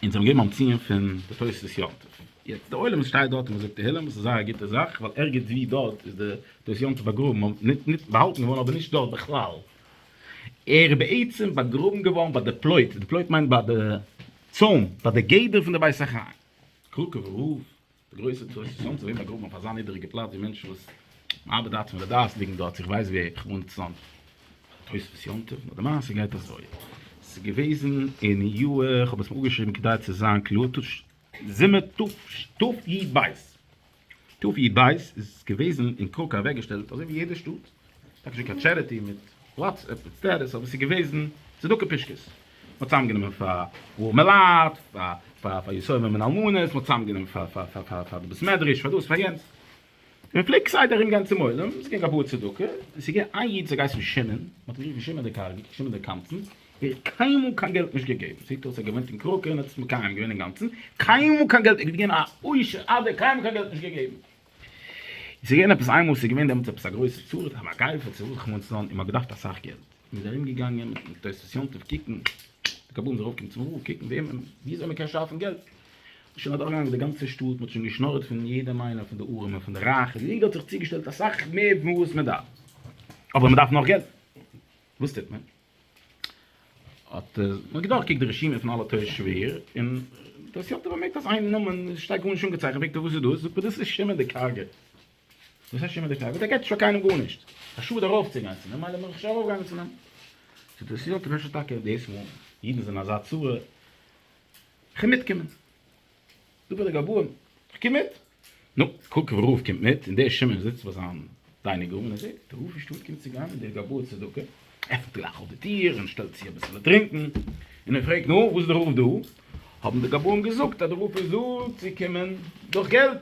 און זיי האבן געגעבן א ציון פון די תוספות יום טוב, יעצט די עולם וואס שטייט דארט און מ'זאגט תהילים וואס איז זייער א גוטע זאך ווייל ערגעץ ווי דארט איז די תוספות יום טוב באגראבן נישט נישט באהאלטן געווארן אבער נישט דארט בכלל, ער איז בעצם באגראבן געווארן ביי די פלויט, די פלויט מיינט ביי די צוים, ביי די גדר פון די בית החיים, קראקעווער הויף. די גרויסע טעות איז צוזאם צו וועבן א גרוב אויף אזא נידעריגע פלאץ ווי מענטשן וואס ארבעט הארט פון לדעת ליגן דארט איך ווייס ווי איך וואוין צוזאם תוספות יום טוב נאר די מעשה גייט אזוי ס'איז געוועזן אין יאר איך האב עס אפגעשריבן כדי צו זיין קלאר תש ז תרפ י בית תרפ י בית איז געוועזן אין קראקא אוועקגעשטעלט אזוי ווי יעדע שטאט. אפשר קיין טשעריטי מיט וואטסעפפ מיט סטעטוס אבער ס'איז געוועזן צדקה פישקעס. מ'האט צוזאמגענומען פאר ארעמע מלייט, פאר יתומים און אלמנות, מ'האט צוזאמגענומען פאר די בית מדרש, פאר דאס פאר יענץ. און מ'פלעגט כסדר ארום גיין צום עולם און זאגן א פאר צדקה. און ס'איז געווען איין איד ס'האט געהייסן שמעון, מ'האט אים גערופן שמעון דער קארגער, שמעון דער קמצן, ער האט קיינמאל קיין געלט נישט געגעבן. זעט אויס ער האט געוואוינט אין קראקע און האט עס מקיים געווען אינגאנצן. קיינמאל קיין געלט, ער איז געווען א עושר אדער קיינמאל קיין געלט נישט געגעבן. איז געווען עפעס איינמאל ס'איז געווען דעמאלטס עפעס א גרויסע צרה די מגיפה צו וואס כ'מיין צו זיין און מ'האט געדארפט אסאך געלט און מ'איז ארום געגאנגען מיט תוספות יום טוב קוקן די קבלן זאל ארויפקומען צום רב קוקן וועמען וויאזוי מ'קען שאפן געלט מ'איז שוין אדורך געגאנגען די גאנצע שטאט מ'האט שוין געשנארעט פון יעדעם איינעם פון די ארעמע פון די רייכע יעדער האט זיך צוגעשטעלט אסאך מער פון וואס מ'דארף אבער מ'דארף נאך געלט וואס טוט מען? האט מען געדורכקוקט די רשימה פון אלע תורה שבעי ר, און דאס יאר האט ער באמערקט אז איין נאמען שטייט גארנישט אנגעצייכנט, פרעגט ער וואס איז דאס? זאגט מען דאס איז שמעון די קארגע. וואס הייסט שמעון די קארגע? דער געט שוין קיינעם גארנישט, א שאד ארויפצוגיין צו אים, מילא מ'זאל שוין ארויפגיין צו אים. זאגט דאס יאר, כ'מיין שוין טאקע דאס מאל, אידן זענען אזא צרה, כ'מיטקומען. זאגט דער גבאי, איך קום מיט. נו, קוק ווי ראובן קומט מיט, און דער שמעון זיצט ביי זיין דיינינג רום און ער זעט די האלבע שטאט קומט צו גיין און דער גבאי צדקה עפנט גלייך אויף די טיר און שטעלט צו אביסעלע טרינקען און ער פרעגט, נו, וואס איז די רוף דא? האבן די גבאים געזאגט אז די רוף איז דא צו קומען דורך געלט.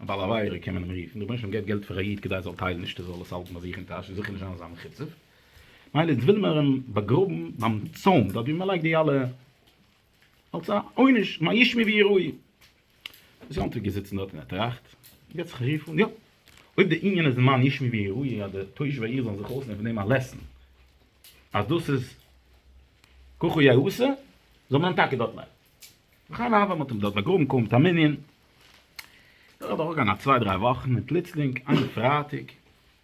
א בעל עבירה קען מען אים רופן, רבונו של עולם געבט געלט פאר א איד כדי ער זאל טיילן נישט ער זאל עס האלטן ביי זיך אין טאש און זיכער נישט זיין אזא מחוצף, מילא איז וויל מען אים באגראבן ביים צאן דארט ווי מען לייגט די אלע אלס א עונש מה ישמי ויהי ראי'. דאס יום טוב געזיצן דארט און ער טראכט, געבט זיך א רוף אן, יא! אויב די ענין איז מה ישמי ויהי ראי' אז די תושבי העיר זאלן זיך אויסנעמען פון דעם א לעסן אז דאס איז ככה יאה עשה, זאל מען אים טאקע דארט לייגן. וכן הוה, מען האט אים דארט באגראבן קוים מיט א מנין, נאך א דורכגאנג א צוויי דריי וואכן, און פלוצלינג איין פרייטאג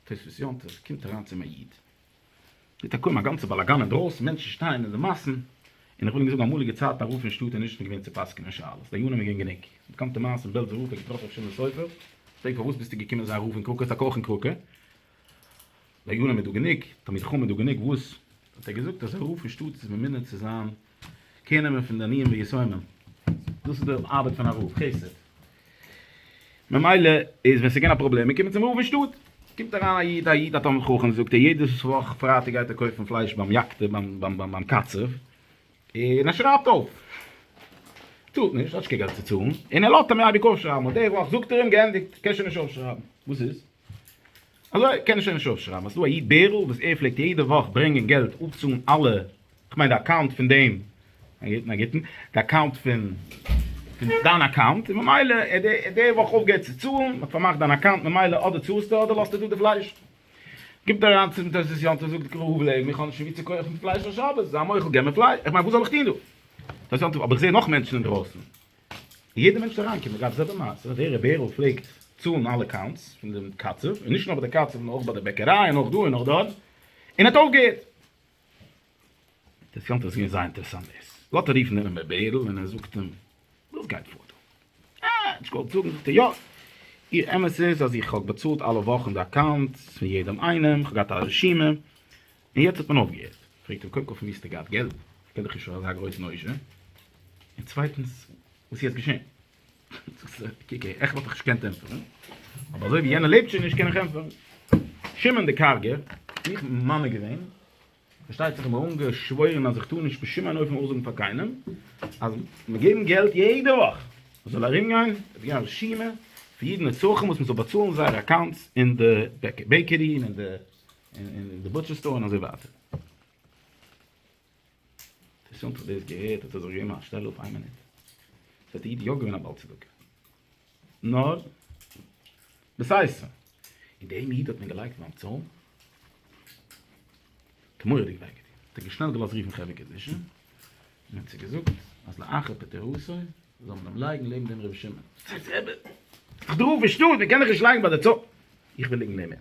תוספות יום טוב קומט אריין צום א איד, טוט ער קוים א גאנצע באלאגאן אינדרויסן, מענטשן שטייען אין די מאסן, און איך וויל נישט זאגן אמאליגע צייטן א רב אין שטאט איז נישט געווען צו פסק'נען שאלות, דיינים איז געווען גענוג, באקאנטע מעשה אין בעלזא רב האט געטראפן ר' שמעון סופר, פרעגט פארוואס ביסטו געקומען זיין רב אין קראקע, ס'טאקע אויך אין קראקע, דיינים איז דא גענוג, תלמידי חכמים איז דא גענוג, וואס האט ער געזאגט אז א רב אין שטאט איז ממונה צו זיין קעיר נעמען פון די עניים ויתומים, דאס איז די ארבעט פון א רב, חסד. ממילא איז ווען ס'געווען א פראבלעם, מ'קומט צום רב אין שטאט, קומט אריין א איד, א איד א תלמיד חכם, זאגט ער יעדעס וואך פרייטאג גייט ער קויפן פלייש ביים יק ת, ביים קצב, און ער שרייבט אויף, צאלט נישט, ער האט נישט קיין געלט צו צאלן, און ער לאזט אים אייביג אויפשרייבן, און די וואך זאגט ער אים, געענדיגט, קענסט שוין נישט אויפשרייבן, וואס איז? אזוי קען איך שוין נישט אויפשרייבן אז ס'איז דא א איד בערל וואס ער פלעגט יעדע וואך ברענגען געלט אפצאלן אלע, כ'מיין די אקאונט פון דעם, נגיטן, די אקאונט פון דיין אקאונט, און ממילא ער האט די וואך אויפגעהערט צו צאלן, מ'האט פארמאכט דיין אקאונט, ממילא אדער צאלסטו אדער לאזטו דא די פלייש. גיבט אריין צום תוספות יום טוב זאגט ר' הבל לעבן איך האב נישט פון ווי צו קויפן פלייש אויף שבת, זיי מוחל געב מיר פלייש, כ'מיין וואס זאל איך טון דא? תוספות יום טוב אבער איך זע נאך מענטשן אינדרויסן. יעדער מענטש וועט אריינקומען אגב זעלבע מעשה ווער ר' בערל פלעגט צאלן אלע קאונטס פון דעם קצב און נישט נאר ביי די קצב נאר אויך ביי די בעקעריי און אויך דא און אויך דארט און האט אויפגעהערט אינטערעסאנט עס איז געווען זייער אינטערעסאנט דאס לאט ער רופן אינעם ר' בערל און ער זאגט אים וואס גייט פאר דא אה נישט געוואלט זאגן זאגט ער יא איר אמת איז אז איך האב באצאלט אלע וואכן די אקאונטס פון יעדעם איינעם איך האב געהאט א רשימה און יעצט האט מען אויפגעהערט? פרעגט אים קודם כל פון ווי האסטו געהאט געלט? איך קען דיך נישט פאר אזא גרויסן עושר, און צווייטנס וואס איז יעצט געשען? קוק אהער, איך וואלט דיך נישט געקענט ענטפערן, אבער אזוי ווי יענער לעבט שוין נישט קען איך ענטפערן. שמעון די קארגער, איך בין ממנה געווען, פארשטייט זיך איך בין אנגעשוואוירן אז איך טאר נישט בשום אין אופן אויסזאגן פאר קיינעם אז מיר געבן געלט יעדע וואך, עס זאל ארומגיין, עס איז געווען א רשימה פון יעדן נצרכים וואס מען זאל באצאלן זייערע אקאונטס אין די בעקערי און אין די. און די בוטשער סטאר און אזוי ווייטער. אינטערעסאנט איך האב דאס געהערט האט ער זיך געגעבן א שטעל אפ איין מינוט. עס האט די איד יא געווען א בעל צדקה. נאר בסייעתא און דעם איד האט מען געלייגט ביים צוים תמורה'דיג וויי געטון. האט ער געשנעל געלאזט רופן חברה קדישא און האט זיי געזאגט אז לאחר פטירתו זאל מען אים לייגן לעבן דעם רבי שמעון. זאגט רבי איך דארף נישט דאס, מען קען מיך נישט לייגן ביי די צוים. איך וויל ליגן נעבן אים.